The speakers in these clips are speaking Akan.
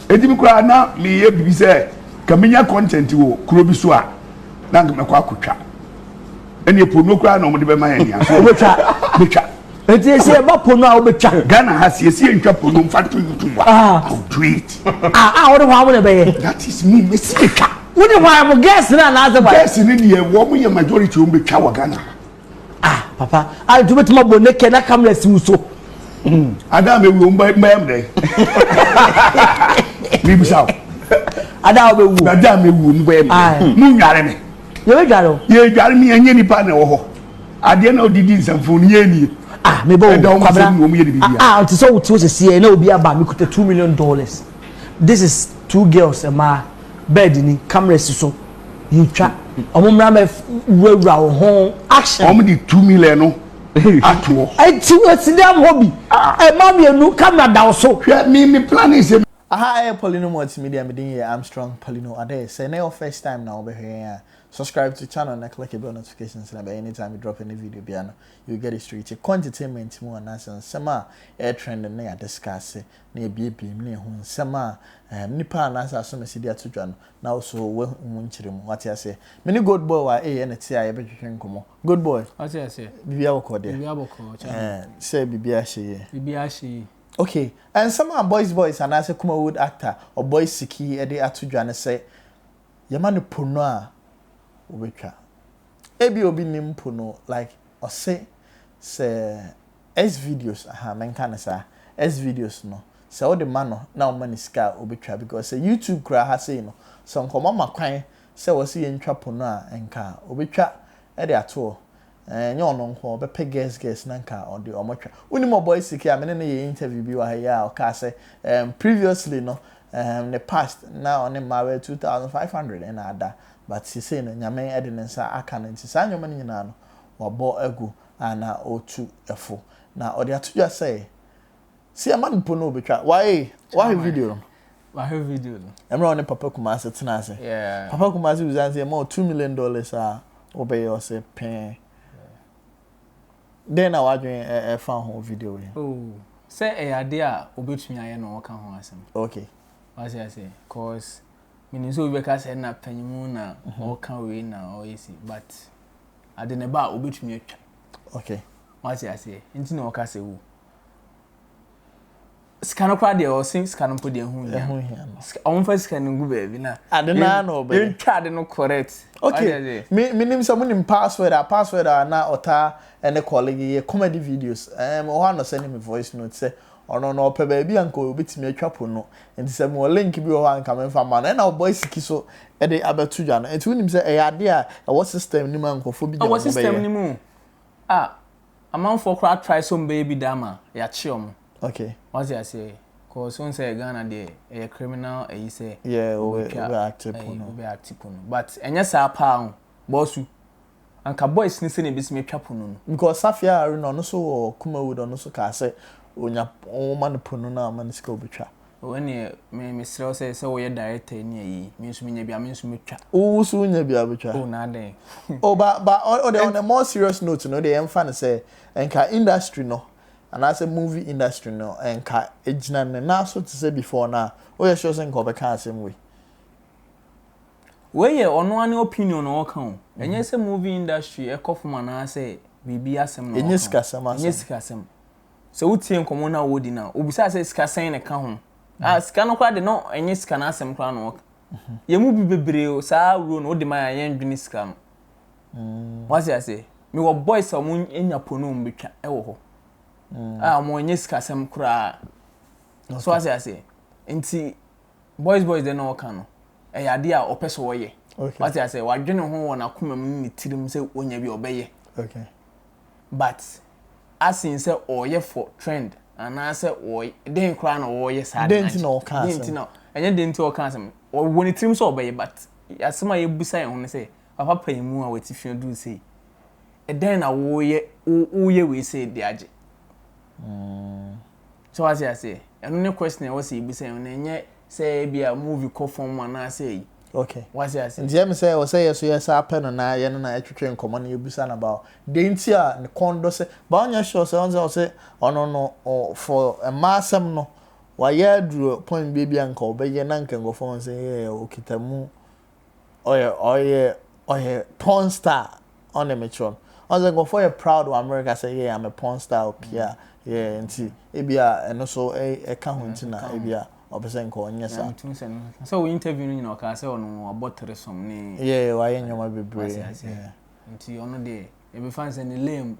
ɛdi mi koraa na meyɛ biribi sɛ ka menya content wɔ kuro bi so a na nka mɛkɔ akɔtwa ɛne ɛpono koraa na ɔmode bɛma yɛ nea so wobɛtwa bɛtwa nti ɛsi ɛba pono a wobɛtwa ghana ha siesie ntwa pono mfa to youtube a ah. i'll do it ah, ah wode hɔ a wode bɛyɛ that is me mɛsi bɛtwa wode hɔ a mo gɛs no anaasɛ gɛs no deɛ wɔn yɛ majority wɔn bɛtwa wɔ ghana ha Ah papa, a nti wobɛtumi abɔ naked na camera si wo so? Hmm. Ada mewu o, mbɛyɛ m dɛn? Mebisa o. Ada wobɛwu o. Ada mewu o, mbɛyɛ m dɛn? Monware me. Yɛbɛdware o. Yɛdware me, ɛnyɛ nipa na ɛwɔ hɔ. Adeɛ na ɔde di nsɛmfo no yɛ nie. Ah, mebɔ o. Ɛda wɔn nsɛm na wɔn yɛ de biribi. Ah, ah, nti sɛ wote wo sisi yɛ na obi aba mekuta two million dollars. This is two girls, ɛmaa, bɛɛdi ni, camera si so. yɛtwa ɔmo mmra mɛ wurawura wo ho action. ɔmo de two million no ato hɔ. eti wɔ si dɛm hɔ bi ɛma ah. mmienu kamera da so. hwɛ mi mi plan ne se. aha ɛyɛ polino multimedia mi din yɛ armstrong polino adɛ sɛ ne yɛ first time na wɔbɛhwɛ yɛn a subscribe to channel na click the bell notifications na bɛ anytime you drop any video bia no you get it straight kɔ entertainment mu anaasɛ nsɛm a ɛyɛ trend ne yɛ discuss na ebiebiem na ehu nsɛm a nnipa anaasɛ asɔmasi de ato dwa no, na wo so woahu mu nkyerɛmu. Wate aseɛ? Me ne Gold Boy wɔ a eɛ na ɛte a yɛbɛtwetwe nkɔmmɔ. Gold Boy, Wate aseɛ? biribiara bɔkɔɔ deɛ? Biribiara bɔkɔɔ, kyɛ ho. Ɛɛ, sɛ biribiara hyɛ yie. Biribiara hyɛ yie. Ok, nsɛm a Boys Boys anaasɛ Kumawood actor Ɔbɔe Siki de ato dwa ne sɛ yɛma no po no a, wobɛtwa. Ebia obi nnim po no, like ɔse sɛ Xvideos ahaa menka no saa Xvideos no sɛ wode ma no na woma no sika a obetwa because sɛ YouTube koraa ha sei no sɛ nkɔmmɔ ma kwan sɛ wɔse yɛntwa po no a nka obetwa de ato hɔ ɛɛ nyɛ ɔno nko ɔbɛpɛ guest guest na nka ɔde ɔmo twa wonim ɔbɔy sike a mene no yɛɛ interview bi wɔ ha yi a ɔkaa sɛ ɛɛm previously no ɛɛm ne past na ɔne mmaa bɛyɛ 2500 ɛna ada but sesei no nyame de ne nsa aka no nti saa nneɛma no nyinaa no wabɔ agu anaa ɔretu fo. Na ɔde ato dwa sɛ, sɛ yɛma no mpo no, ɔbɛtwa. Wae, wahwɛ video no? Mahwɛ video no. Mmerɛ a ɔne Papa Kumase tena ase. Papa Kumase bisa no sɛ, yɛma wo two million dollars a, wobɛyɛ? Ɔse, pɛɛ. Dɛn na w'adwene fa ho video yi? Oh, sɛ ɛyɛ adeɛ a ɔbɛtumi ayɛ na ɔka ho asɛm. Okay. Wate aseɛ, cause menim sɛ obi bɛka sɛ na panyimu na ɔka wei na ɔyɛ si, but. ade na ɛba a obetumi atwa okay wate aseɛ nti na ɔka sɛ wo sika no koraa deɛ ɔse sika no mpo deɛ ɛho hia ɛho hia no wɔn fa sika no gu baabi na ade na na ɔbɛ yɛn twa ade no correct okay me me nim sɛ mo nim password a password a na ɔta ɛne kɔle yɛ comedy videos ɛɛ ɔhɔ anɔ sɛ ne me voice note sɛ Ɔno no ɔpɛ baabi a anka obetumi atwa po no. Enti sɛ mewɔ link bi wɔ hɔ a anka memfa mma no. Ɛnna ɔbɔ asiki so de abɛto dwa no. Enti wonim sɛ ɛyɛ ade a ɛwɔ system no mu a nkurɔfoɔ bi nya wɔn bɛyɛ. Ɛwɔ system no mu a amanfoɔ koraa atrae sɛ wɔbɛyɛ bi da ama yɛakye wɔn. Okay. Wate aseɛ? Cause wohu sɛ Ghana deɛ ɛyɛ criminal ayi sɛ. Yeah, wobɛtwa wobɛ acte po no. Wobɛ acte po no. But ɛnyɛ saa paa ho. Bɔsu. Anka boys ne sɛnea ebetumi atwa po no no. Because safi a are no ɔno so wɔ kumawood ɔno so kaa sɛ onya ɔma no po no na ɔma no sika obetwa. Oh ɛneɛ me mesrɛ wo sɛ sɛ wo yɛ director ɛne ayi me nso menya bi a me nso mɛtwa. Wo wo so wonya bi a wobɛtwa. Oh na adɛn. Oh ba ba ɔ ɔdeɛ on a more serious note no wodeɛ yɛnfa no sɛ nka industry no anaasɛ movie industry no nka ɛgyina ne nan so te sɛ before no a woyɛ sure sɛ nka ɔbɛka asɛm wei. Wei yɛ ɔno ara ne opinion na ɔka o, ɛnyɛ sɛ movie industry ɛkɔ fam anaasɛ biribi asɛm na ɔka o. Ɛnyɛ sikasɛm asɛm. Ɛnyɛ sikasɛm. Sɛ wotie nkɔmmɔ no a wɔdi no a, wɔbisa sɛ sika sɛn na ɛka ho. Ah, sika no koraa de na ɛnyɛ sika no asɛm koraa na ɔka. Yɛn mu bi bebree o, saa awuro no wode ma yɛn a yɛndwene sika no. Wate aseɛ? Mewɔ boys a wɔanya po no wɔbɛtwa wɔ hɔ. A wɔnyɛ sikasɛm koraa. So wate aseɛ? Nti boys boys deɛ na ɔka no ɛyɛ adeɛ a ɔpɛ sɛ ɔyɛ wate asɛ wadwene ho wɔ n'akoma mu ne tirim sɛ ɔnya bi ɔbɛyɛ but asen sɛ ɔyɛ for trend anaasɛ ɔyɛ den koraa na ɔyɛ saa den ti na ɔka asɛm den ti na ɛnyɛ den ti ɔka asɛm ɔwɔ ne tirim sɛ ɔbɛyɛ but asɛm a yɛbusa yɛn ho ne sɛ papa panyin mu a wɔte fi aduru sei ɛdɛn na wɔyɛ wɔyɛ wei sɛ de agye. Mm. So wate aseɛ? Ɛno ne question a ɛwɔ sɛ yɛbisa yɛn ho, na ɛnyɛ sɛ ebia movie kɔ fam anaasɛ ayi. Okay. Wate aseɛ? Nti ɛm sɛ ɛwɔ sɛ yɛ so yɛ saa pɛ no na yɛ ne no ɛtwetwe nkɔmmɔ na yɛbisa no about deɛ nti a ne kɔn dɔ sɛ, but ɔnyɛ sure sɛ, ɔhu sɛ ɔse ɔno no for mmaa asɛm no wayɛ aduru point bi a ebia nka ɔbɛyɛ na nka nkurɔfoɔ ahu sɛ yeah ɔkita mu ɔyɛ ɔyɛ ɔyɛ porn star ɔne me kyerɛ no ɔsɛ nkurɔfoɔ yɛ proud wɔ America sɛ yɛ ame porn star opia yɛ nti ebi a ɛno so ɛka ho nti na ebi a ɔpɛ sɛ nka ɔnyɛ saa. sɛ wɔ interview no nyina ɔkaa sɛ ɔno ɔbɔ teresom ne yɛ wayɛ nneɛma bebree nti ɔno deɛ yɛbɛfa sɛ ne lame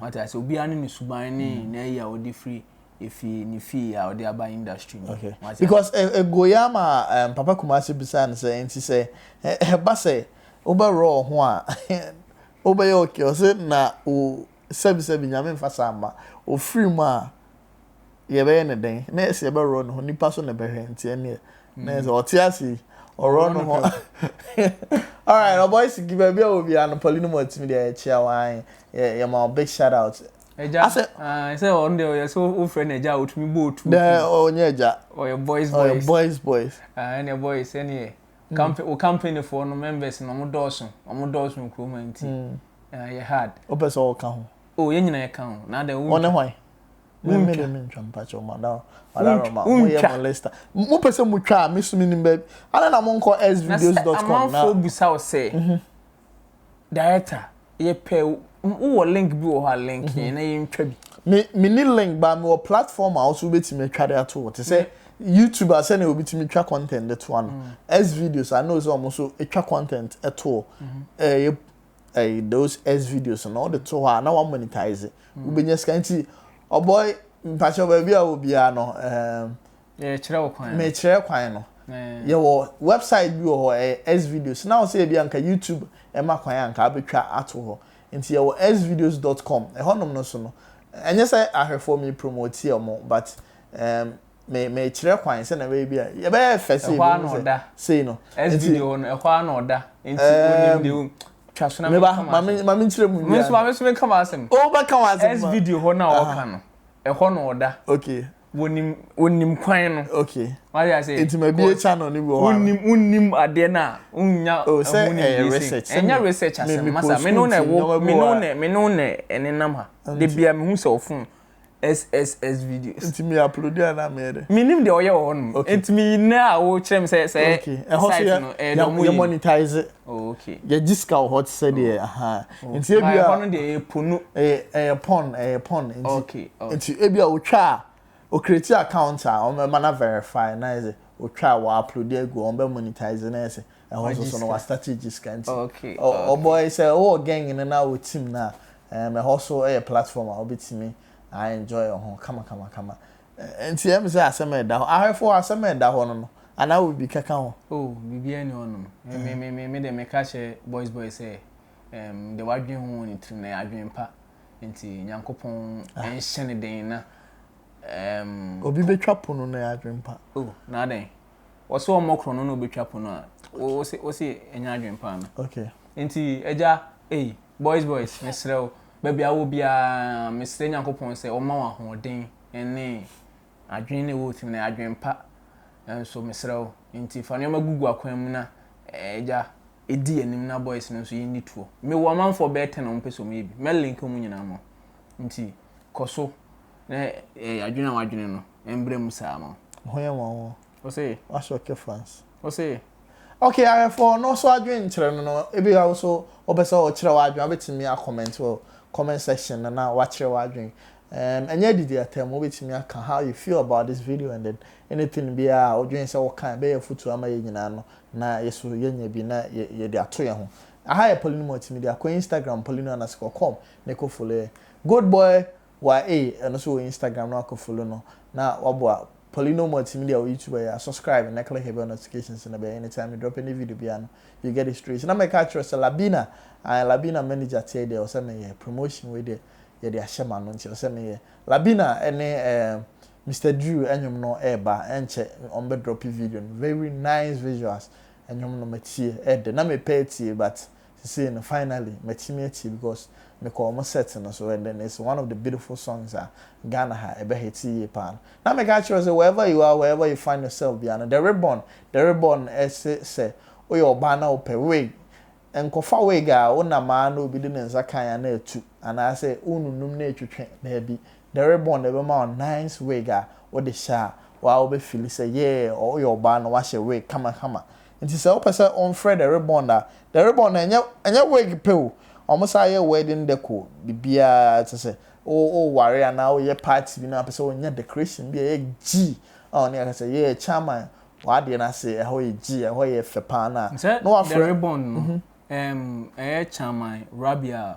wate ase obiara ne ne suban ne na ayi a ɔde firi efi ne fie a ɔde aba industry mu. Okay. Because eh, eh, goya ma um, Papa Kumasi bisaa no sɛ nti sɛ ɛba sɛ wobɛwerɛ wo ho a wobɛyɛ okay ɔse na wo sɛbisɛbi nyame mfa saa mma ɔfiri mu a yɛbɛyɛ ne dɛn na ɛsɛ yɛbɛwerɛ ne ho nipa so na ɛbɛhwɛ nti ɛneɛ na ɛsɛ ɔte ase yi ɔwerɛ ne ho alright ɔbɔyisi baabi a wɔ biara no pɔli no mu atumi deɛ yɛkyia wɔn yɛma big shout out Agya. Asɛ. Ah, sɛ ɔno deɛ ɔyɛ sɛ wofrɛ no agya a otumi bɔ otu. Dɛ ɔnyɛ agya. Ɔyɛ boys boys. Ɔyɛ boys boys. Ah, ɛnna boys ɛnneɛ. Hmm. Kampe o kampanifoɔ no members na wɔn dɔɔso wɔn dɔɔso wɔ kurom a nti. Hmm. Ah, yɛ hard. O pɛ sɛ ɔka ho. O yɛn nyinaa yɛ ka ho na adɛ wɔn. Ɔne hwan. Mo mmiri mi ntwa mpakyɛ wɔn adaro adaro ma mo yɛ mo lista. Mo pɛ sɛ mo twa a mi sumi nim bɛbi. Ana na mo nkɔ svideos.com na. Amanfoɔ busa ɔsɛ. Mhm. Director, yɛpɛ wo wɔ link bi wɔ hɔ a link yɛn na yɛntwa bi. Me me ni link ba me wɔ platform a ɔso wobɛtumi atwa de ato hɔ te sɛ YouTube a sɛnea obi tumi twa content de to ano S videos I know sɛ ɔmo so twa content to ɛyɛ ɛyɛ those S videos no ɔde to hɔ a na wa monetize wobɛnya sika nti ɔbɔy mpakyɛw baabi a wɔ biara no ɛɛm Yɛkyerɛ wo kwan no. Mekyerɛ kwan no. Yɛwɔ website bi wɔ hɔ, ɛyɛ Xvideos. Now sɛ ebi anka YouTube ɛma kwan a anka abɛtwa ato hɔ. Nti yɛwɔ xvideos dot com. Ɛhɔ nom no so no, ɛnyɛ sɛ ahwɛfoɔ me promote wɔn but um, me mekyerɛ kwan sɛnea ɛbɛyɛ bi a, yɛbɛyɛ fɛ sei, ɛhɔ na ɔda. Sei no. Xvideo no, ɛhɔ na ɔda. Nti onim deɛ o. Twa so na me kama asɛm. Meba, ma me nkyerɛ mu nwie. Me nso, ma me nso me kama asɛm. O, bɛka w'asɛm. Xvideo hɔ na ɔka no, ɛhɔ na ɔda. Okay. wɔnim wɔnim kwan no. okay wáyé ase. nti ma bi ekya na ɔne bi wɔ hɔ. wonim wonim adeɛ no a wonya oh, ɛho ne eh, bi se ɛnyɛ research asɛm masa me no na ɛwɔ me no na me no na ɛnenam ha de bia me hu sɛ ɔfon sss videos. nti mi upload a na mi yɛ dɛ. mi nim deɛ ɔyɛ wɔ hɔ nom. okay nti mi nɛ a o kyerɛ mi sɛ sɛ site no ɛyɛ dɔm yi. yɛ monetize. oh okay. yɛ gyi sika wɔ hɔ ti sɛ deɛ. Nti ebia. Ɛhɔ no deɛ ɛyɛ po no. Ɛyɛ ɛyɛ pɔn ɛyɛ pɔn nti. Okay okay. Nti ebia otwa a o create account a wɔn bɛma na verify na ɛsɛ otwa wɔ upload agu wɔn bɛ monetize na ɛsɛ ɛhɔ nso so no wa start gye sika nti. Okay okay. Ɔbɔ yi sɛ ɔwɔ gang no na wɔ team no a ɛɛm ɛhɔ so ɛyɛ platform a obetumi a enjoy ho kama kama kama. Nti ɛyɛ mi sɛ asɛm a ɛda hɔ. Ahwɛfo hɔ asɛm a ɛda hɔ no no anaa wɔ bibi kɛka ho? Oh biribiara ni hɔ nom. Me me me me deɛ meka kyerɛ boys boys sɛ Ɛɛm, deɛ wadwen ho wɔ ne tirim no ɛyɛ adwen pa. Nti Nyankopɔn ah. nhyɛ ne den na ɛɛm. Obi bɛtwa pono no ɛyɛ adwen pa. O, oh, na adɛn? Wɔsɛ ɔmmɔ korɔ no na obɛtwa pono a. Wɔsɛ wɔsɛ ɛnyɛ adwen pa no. Okay. Nti ɛgya, ei, boys boys, mesrɛ wo, baabi a wɔ biara, mesrɛ Nyankopɔn sɛ ɔma wɔn ahoɔden ɛne Adwene na ɛwɔ wo tirim no yɛ adwene pa, nanso mesrɛ wo, enti fa nneɛma gugu akwan mu na Agya, di yɛn anim na boys no nso yɛnni tuo. Mewɔ ɔmanfoɔ bɛyɛ ten a wɔpɛ sɛ wɔyɛ bi. Mɛ link wɔn nyinaa ma wo. Enti kɔ so na adwene a woadwene no mmra mu saa ma wo. Ho yɛ nwanwa o. Ose. Wahyɛ ɔkɛ France. Ose. Okay awɛfoɔ ɔno nso adwene nkyerɛ no no ebi a nso wopɛ sɛ ɔkyerɛ w'adwene wobɛtumi a comment wɔ comment section no na wakyerɛ w'adwene um, ɛnyɛ adidi atam wobɛtumi aka how you feel about this video and then anything biara a wodwene sɛ woka ɛbɛyɛ afutuo ama yɛ nyinaa no na yɛso yɛnya bi na yɛde ato yɛn ho aha yɛ Paulinuma tumi de akɔ Instagram Paulinuma na sɛ kɔkɔm na ɛkɔ follow yɛ good boy Waa ei ɛno nso wɔ Instagram no akɔ follow no na waboa Paulino Multimedia wɔ YouTube ɛyɛ a subscribe na click the bell notifications no ɛbɛyɛ anytime me drop any video biara no you get it straight na mɛka akyerɛ wo sɛ Labina ae Labina manager teɛ deɛ ɛwɔ sɛ meyɛ promotion wei deɛ yɛde ahyɛ m'ano nti ɛwɔ sɛ meyɛ Labina ɛne ɛɛ Mister Drew ɛnwom no ɛɛba ɛnkyɛ wɔn bɛ drop video no very nice visuals ɛnwom no matie ɛɛdɛ na mepɛ atie but sesei no finally matumi atie because mekɔɔ ɔmo set no so and then it's one of the beautiful songs a Ghana ha ɛbɛ hite yie paa no. Na meka kyerɛ wo sɛ wherever you are wherever you find yourself biara no the ribbon the ribbon ɛse sɛ woyɛ ɔbaa na wopɛ wig nkɔfa wig a wonam ara na obi de ne nsa kan a na atu anaasɛ wonunum na etwetwe daabi the ribbon na ɛbɛma wo nice wig a wode hyɛ a waa wobɛ fili sɛ yeah woyɛ ɔbaa na woahyɛ wig kama kama Nti sɛ wopɛ sɛ wonfrɛ the ribbon a, the ribbon no ɛnyɛ ɛnyɛ wig pɛ o, wɔn san yɛ wedding decor, biribiara te sɛ wo woware anaa woyɛ party bi na wopɛ sɛ wonya decoration bi a ɛyɛ gyii a wɔne aka sɛ yeah chairman w'adeɛ no ase ɛhɔ yɛ gyii ɛhɔ yɛ fɛ paa no a, Sɛ na the wafrɛ. ribbon no, Mhm. ɛm, ɛyɛ chairman Rabia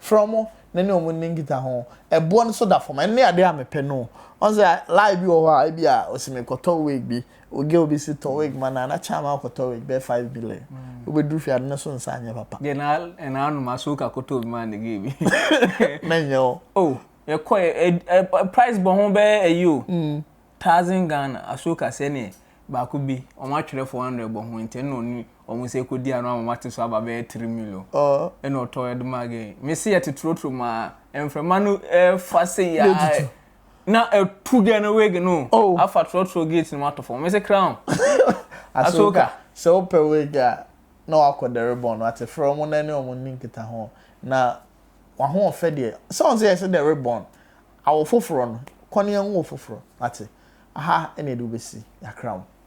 Frɛ wɔn na ne wɔn nni nkitaho. Ɛboɔ no so da fam. Ɛno ne adeɛ a mepɛ no o. Woahu sɛ lie bi wɔ hɔ a, ebia ɔse mekɔtɔ wig bi, wo girl bi se tɔ wig ma no a, na kyɛ ama wokɔtɔ wig bɛyɛ five billion. Wobɛduru fie a, ade no so nsa nyɛ papa. Deɛ na ɛna anom a, so woka kɔtɔɔ bi maa ne girl bi? Mɛnyɛ o. Oh, yɛkɔeɛ, ɛ, ɛ, price bɔ ho bɛyɛ ayi o. Thousand Ghana asuo kaseɛ neɛ baako bi wɔn atwerɛ four hundred bɔ ho nti ɛna ɔne wɔn nsa kɔdi ano ama wɔate so aba bɛyɛ three million ɛna ɔtɔ ɛde maa gay mese yɛte trotro mu a mframa no ɛfa sei a na ɛtu gɛ no wig no afa trotro gate no mu ato fam mese crown asoka sɛ wopɛ wig a na wakɔ dɛre bɔn no ate frɛ wɔn na ɛne wɔn nni nkita ho na wahoɔfɛ deɛ sɛ wɔn sɛ yɛsɛ dɛre bɔn Awo foforɔ no, kɔ ne nwo foforɔ, wate? Aha na yɛde wo bɛsi, yɛakra wo.